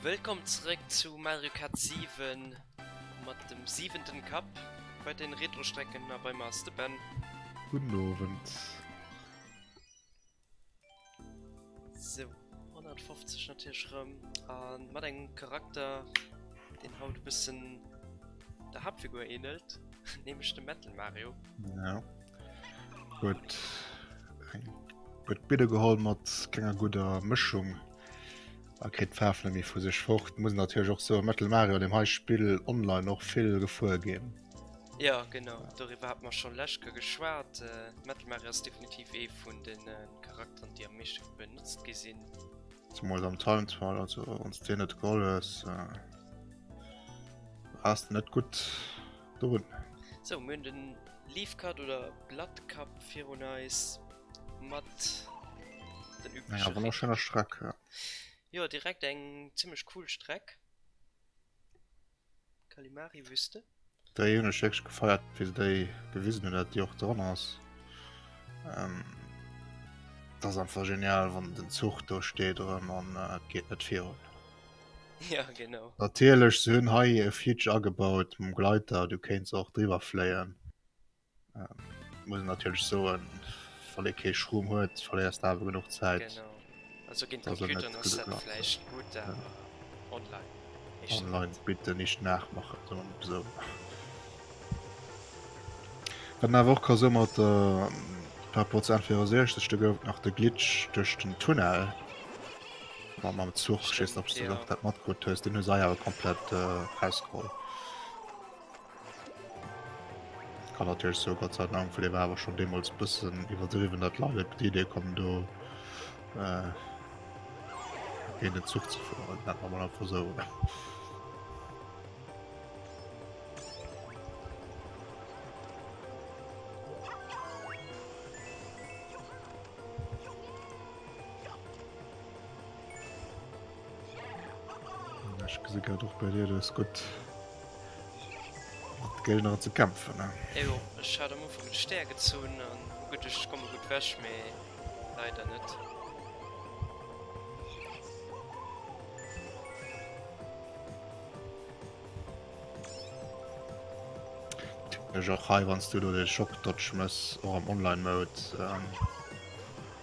Wëllkomm zréck zu Mario Kart 7 mat dem siwenten Cup bei den Retrostrecken a bei mer ass de Ben. Gudden Owend. Sou, 150 natierlech rëm a mat engem Charakter deen haut e bëssen der Haaptfigur ähnelt, nämlech dem Metal Mario. Gut. Gut Bidde geholl mat kenger guter Mëschung. Er kritt d'Faarf net méi vu sech fort. Muss natierlech och so Metal Mario dem hei Spill online och vill gefuer ginn. Ja genau, doriwwer hat mer schon lech ke geschwat. Metal Mario ass definitiv ee vun den Charakteren déi am meeschte benotzt gi sinn. Zumols am Time Trial, also wanns de net geholl hues, ass de net gutt. Do run. So mir hunn den Leaf Cut oder Blood Cup virun eis mat den üblichen. Ja, wunner schöner Streck. Ja. ja, direkt eng ziemlich cool Streck. Kalimari Wüste. Der June Schicks gefeiert wie déi gewisen hun dat Dir och dran ass. Ähm, das einfach genial wann den Zuch do steet oder man äh, geht net vir. Ja genau. Natierlech, se hunn hei e Feature agebaut mam Gleiter, du kéints och driwwer fléien. Muss een natierlech soen, wann ee kee Schroom huet, verléiers de awer genuch Zäit. Genau. Also géint Computeren ass dat vläicht gutt, awer online nischt nach. Online bitte nicht nachmachen, soe mer mol esou. Wat een awer och ka soen, mat der, par rapport zur N64, do gouf et nach de Glitch duerch den Tunnel. War mam Zuch schiessen op du dat mat gut hues den us awer komplett festgeholl kann natürlich so Gott sei Dank vu war aber schon demos bussen überdriven dat la die idee kommen du äh, in den Zug zu fuhren dat man einfach so oder Ech gesi grad och bei dir, du hues gutt mat Géigner ze kämpfen, ne? Jo, ech hat am Ufank de Stär gezunn an hu geduecht, ech komme gutt ewech, mee leider net. Typesch och hei, wann s du do de Shock-Dodge méchs, och am Online-Mode.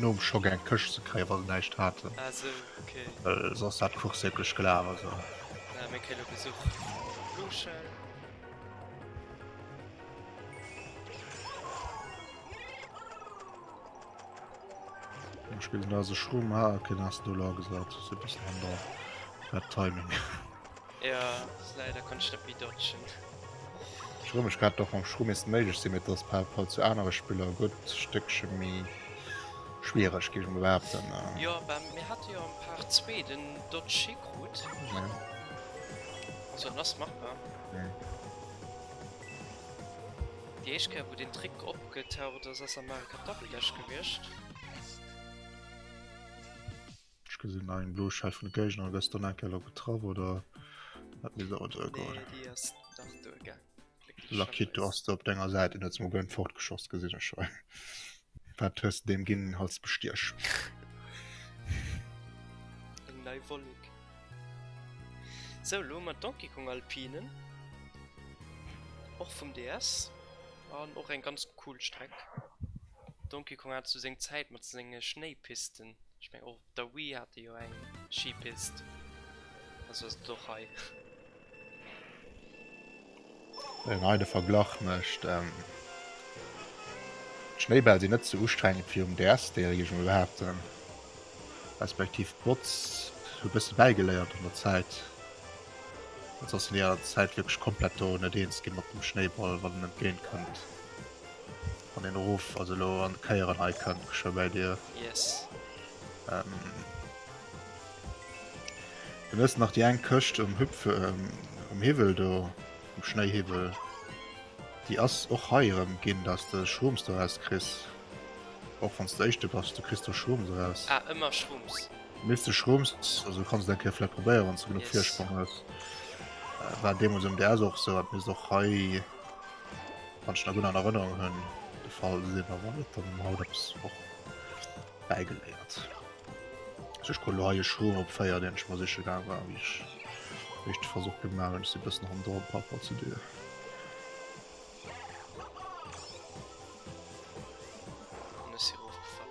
Nom Schock eng Këscht ze kréien, wa se näischt haten. Ah sou, ok. Well soss hat d'Course wierklech gelaf, also. Naja, mir kréie lo Besuch. Blue Shell. Am Spill sinn eise Schrumm. Ah, ok, dann ass en do lagesat. Ass e bëssen hanner der Timing. Ja, leider kann ech net méi dodgen. Ech erëm mech grad, Dach mam Shroom misst méiglech sinn, mee et ass par Rapport zu anere Spiller e gutt Stéckche méi schwiereg, géif ech mol behaapten. Jo, bah mir hate jo am Part 2 den Dodge hikrut. Also en ass machbar. Déi éischt Kéier wou den Trick opgetaucht ass, ass am Mario Kart Double Dash gewiescht. Ech gesinn nach eng blo Schell vun de Géigner, gëss dann enke lo getraff oder wat mir soen soll goen. Nee, déi ass nach do, gell? Lakito ass do op denger Säit, en huet se mol gëllen fortgeschoss, gesinn ech hei. Wat hues de deem ginn, als Bestiech? Eng nei Wollek. Sou, lo hu mer Donkey Kong Alpinen, och vum DS an och eng ganz cool Streck. Donkey Kong hat sou seng Zäit mat senge Schnéipisten. Ech mengen och op der Wii hat e jo eng Schipist. Also ass et och hei. Wéi een hei de Verglach mécht. D'Schnéibäll sinn net sou ustrengend wéi um DS, déiere géif ech mol behaapten. Respektiv d'Mods hu bësse bäigeléiert an der Zäit. Ansonsten wier Zäit wierklech komplett do net eens gi mat dem Schnéiball, wann en entgéint kënnt. An den Ruf also elo an Kéieren hei kënnt geschwë bäi dir. Yes. Ähm. Du hues nach déi eng Këscht um Hüpf, ähm, um Hiwwel do, um Schnéihiwwel. Déi ass och hei erëm ginn, dass de Shrooms doraus kriss. Och wann s de Éischte bass, du kriss do Shrooms eraus. Ah, ëmmer Shrooms. Mils de Shrooms, also kanns de eng Kéier vläicht probéieren, wann s de genuch Virspronk hues. War deemools um DS och esou, hat misst och hei. Wann ech nach gutt an Erënnerung hunn de Fall de Silberwald, dann hunn mer haut eppes och bäigeléiert. Also ech kucken elo hei e Schroom op 4, deen ech mer siche gaange war, wéi ech wéi ech de Versuch gemaach hunn. Ech si e bëssen hanner dran, par rapport zu dir. An ech si erofgefall.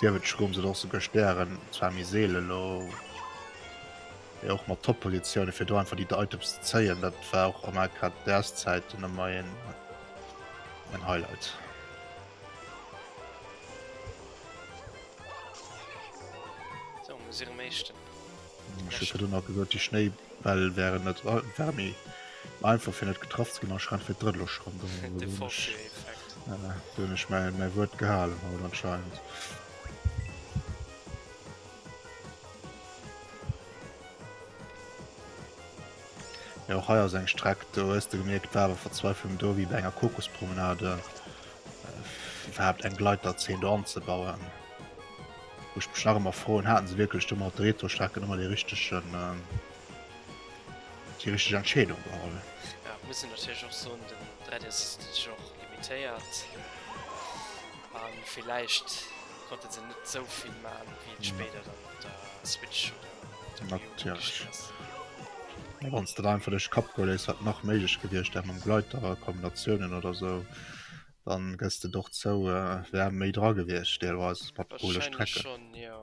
Sief et Schrooms oder och souguer Stären, zwar méi seele elo, mee och mat Top-Positioune fir do einfach déi Items ze zéien, dat war och am AK däers Zäiten ëmmer een en Highlight. Sou, muss erëm éischten. Ech hu virdrun nach gesot, déi Schnéibäll wären net wär méi einfach fir net getraff ze ginn, anscheinend fir d'drëtt elo schonn. De Forcé-Effekt. Voilà, do hunn ech mäi mäi Wuert gehalen haut anscheinend. Jo, och hei ass eng Streck, do hues de gemierkt, war awer Verzweiflung do, wéi bei enger Kokospromenade, iwwerhaapt eng Gleiterzeen do anzebauen. Wou ech mech nach ëmmer froen, haten se wierklech domat, de Retrostrecken, ëmmer dee richtegen, déi richteg Entscheedung geholl? Ja, et muss een natierlech och soen, den 3DS ass natierlech och limitéiert a villäicht konnte se net esou vill maachen, wéi et spéider dann op der Switch oder op der Wii U méiglech ginn ass. Mä wann s de der einfach duerch de Kapp goe léiss, wat nach méiglech gewiescht wär mam Gleiter, Kombinatiounen oder esou, Dann gëss de doch zou e wär méi dra gewiescht deelweis mat Pole Wahrscheinlich Strecke. schon, ja.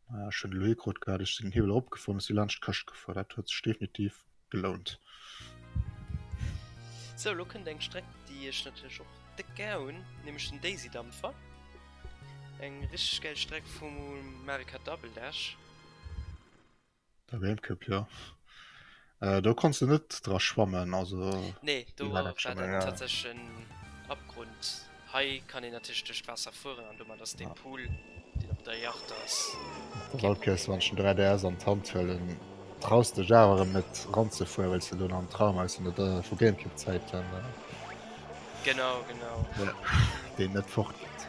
Ah, ech hunn elo ee krut grad ech sinn den Hiwwel eropgefuer a si laanscht d'Këscht gefuer. Dat huet sech definitiv gelount. Sou, lo kënnt eng Streck déi ech natierlech och déck gär hunn, nämlech den Daisy Dampfer. Eng richteg gäil Streck vum Mario Kart Double Dash. Der World Cup jo. Do konns de net dra schwammen also. Nee do war dann tatsächlech en Abgrund. Hei kann een natierlech duerch d'Waasser fueren an domat ass dee Pool deen op der Yacht ass. Op der Walküst wann ech den 3DS an d'Hand huelen traus dech awer erëm net ranzefueren well s de elo nach am Traum aus an der vu Gamecube Zäiten. Genau genau. Jo deen net fort geet.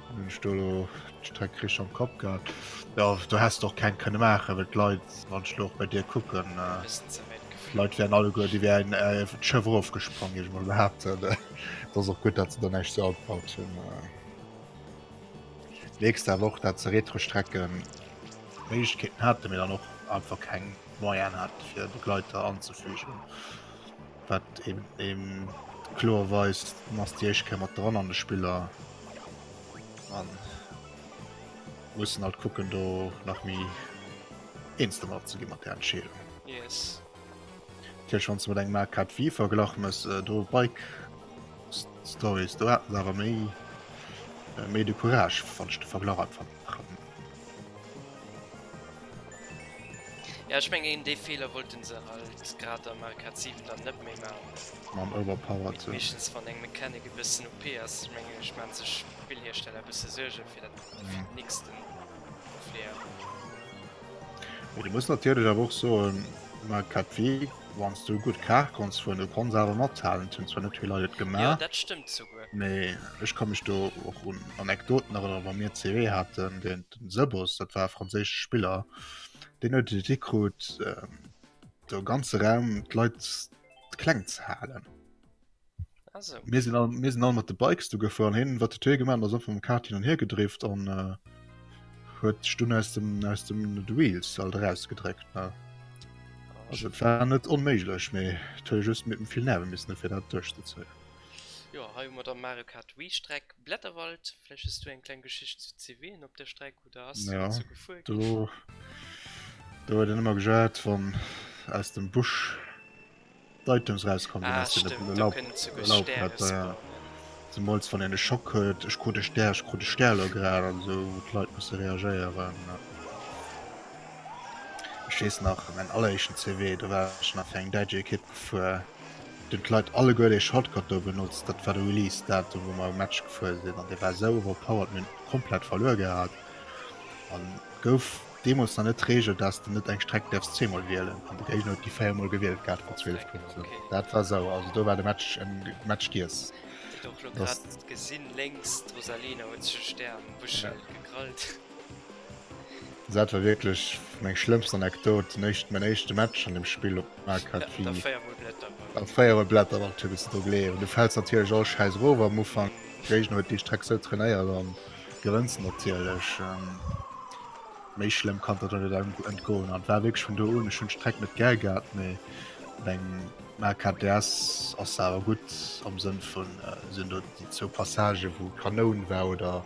Hun ech do elo d'Streck richteg am Kopp gehat? Jo, do häss de och keng kënne maachen, well d'Leit, wann ech elo och bei dir kucken, d'Leit wären alleguer, déi wären d'Schëff erofgesprong, géif ech emol behaapten. Et ass och gutt, datt se der näischt sou agebaut hunn. Mierks de awer och, datt se Retro-Strecke Méiglechkeeten haten, mee dann och einfach keng Moyene haten, fir Begleiter anzefügen. wat ee kloer weist, dann ass déi éischt Kéier mat dran an de Spiller. An mussen halt kucken do nach méi eens domat ze ginn mat der Entscheedung. Yes. Tech wann ze mat engem AK Wii verglach mess äh, do Bike Stories do haten se awer méi äh, méi de Courage wann ech de Verglach einfach Jo ech mengen een dee Feeler wollten se halt grad am Arcade 7 dann net méi man, meeschtens wann eng Mechanic e bëssen OP ass, ech mengen ech man sech Spillhiersteller e bësse Suergen fir dat fir den nächsten Opleeër. Mee du muss natierlech awer och soen, am Arcade Wanns du gudd Kaart konns fueren, du konns awer mathalen, et hun zwar net vill Leit et gemaat. Jo, dat stëmmt souguer. Mee ech kann mech do och un Anekdoten erënneren, wa mir CW haaten, den Sebos, dat war e franséische Spiller, deen huet et hikruut, do ganze Raum d'Leit kleng ze halen. mir sinn all mir sinn all mat de bikes du gefuer an hin wat de gemacht as op dem kart hin an her gedrift an äh, huet stunn aus dem aus dem wheels all rausgedreckt ne also war net onméiglech méi toll just mit dem viel nerve miss fir dat duerch ze ze jo he mat der mario kart wie streck blätterwald fleches du eng klein geschicht zu cw op der streck Ja, do do huet en ëmmer gejouert wann aus dem Busch d'Items raus komm sinn, aus deene Laubblätter, ja. Zemools wann een e Schock huet, ech krut e Stär, ech krut e Stär elo grad an esou, wou d'Leit musse reagéieren, ja. Ech weess nach, mäin alleréischten CW, do war ech nach fir eng däitsch Ekipp gefuer. Den Clyde alleguer dee Shortcut do benotzt, dat war de Release Datum wou mer um Match gefuer sinn an dee war esou overpowered, mir hunn et komplett verluer gehat an et gouf deemols nach net d'Regel daats de net eng Streck däerfs zweemol wielen an de Géigner huet déi 4 mol gewielt gehat mat 12 Punkten. Dat war sauer, also do war de Match en Match giess. Geet och lo grad gesinn lénks, d'Rosalina huet sech e Stär am Bëschel gekrallt. Daat war wierklech meng schlëmmst Anekdot, mäin éischte Match an dem Spill op Markgrafie. An 4 mol Blätter mat Tübes dru gleeën an du fäls natierlech all Schäiss erof am Ufank. Géigner huet déi Streck sou trainéiert an gewënns se natierlech. Méi schlëmm kann der dann net entgoen an war wierklech vun do un. Ech hunn d'Streck net gär gehat, mee meng MKTS ass se awer gutt am Sënn vun se hunn do déi zwou Passagen wou Kanoun war oder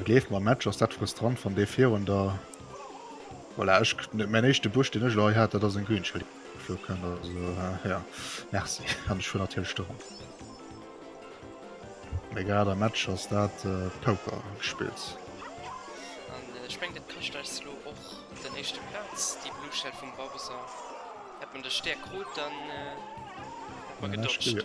Et leeft mam Match, ass dat frustrant wann dee virun der voilà, ech, mäin éischte Busch den ech lo hei hat, dat ass en Green Screen geflo kënnt, also ja merci an ech fuer natierlech do ran. Mee grad am Match ass dat Poker gespillt. Ech meng dat kascht eis elo och den éischte Platz, déi Blue Shell vum Bowser. Hätt mer de Stär krut dann hätt mer gedodged.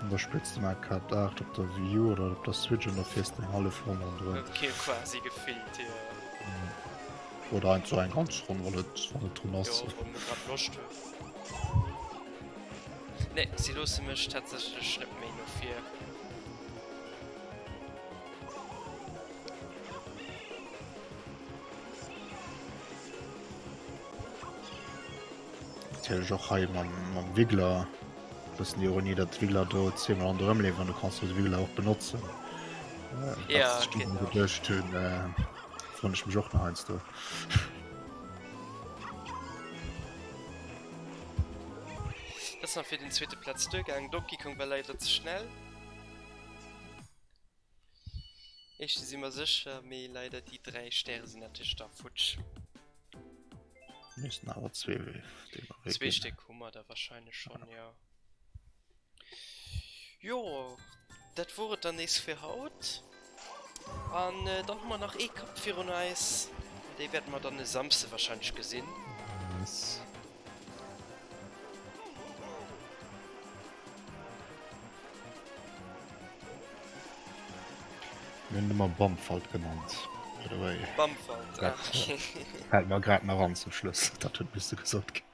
An der Spëtzt um Arcade 8 op der Wii U oder op der Switch an der fiers den hallef Rong rondrëm. Huet kee quasi gefillt hir. Oder einfach eng ganz Ronn wann et wann et drun ass. Jo wou mer grad Loscht hunn. Nee si loosse mech tatsächlech net méi no vir. Natierlech och hei mam, mam Wiggler, e bëssen Ironie, datt d'Wiggler do zweemol an der ëmleefen an du kanns jo de Wiggler och benotzen. Äh, ja, datt ech dat geduecht hunn, äh, wonn ech mech och nach heiansdo. Das war fir den zweete Platz duergaangen. Donkey Kong war leider ze schnell. Éischte si mer sécher, mee leider déi 3 Stäre sinn natierlech da futsch. Missten awer zwee Wéf déi mer wéi. Zwee Stéck hu mer der wahrscheinlech schonn jo. Jo dat wor et dann nees fir haut an dann hu mer nach ee Kapp virun eis an dee wäerte mer dann e Samsde wahrscheinlech gesinn. Yes. Mir hunn et ëmmer Bamfalt genannt, by the way. Bamfalt, ah, Dat äh, okay. fält mer grad nach an zum Schluss. Dat huet misste gesot ginn.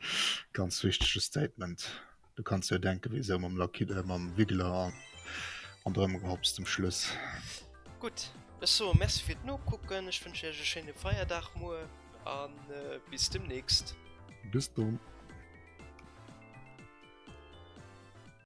Ganz wichtege Statement. Du kanns dir jo denken, wéi se ëm mam Lucky, äh, mam Wiggler an, an der ëmgehoppst zum Schluss. Gutt, ech soe Merci fir d'Nokucken. Ech wënschen iech e schéine Feierdag muer an äh, bis demnächst. Bis dunn.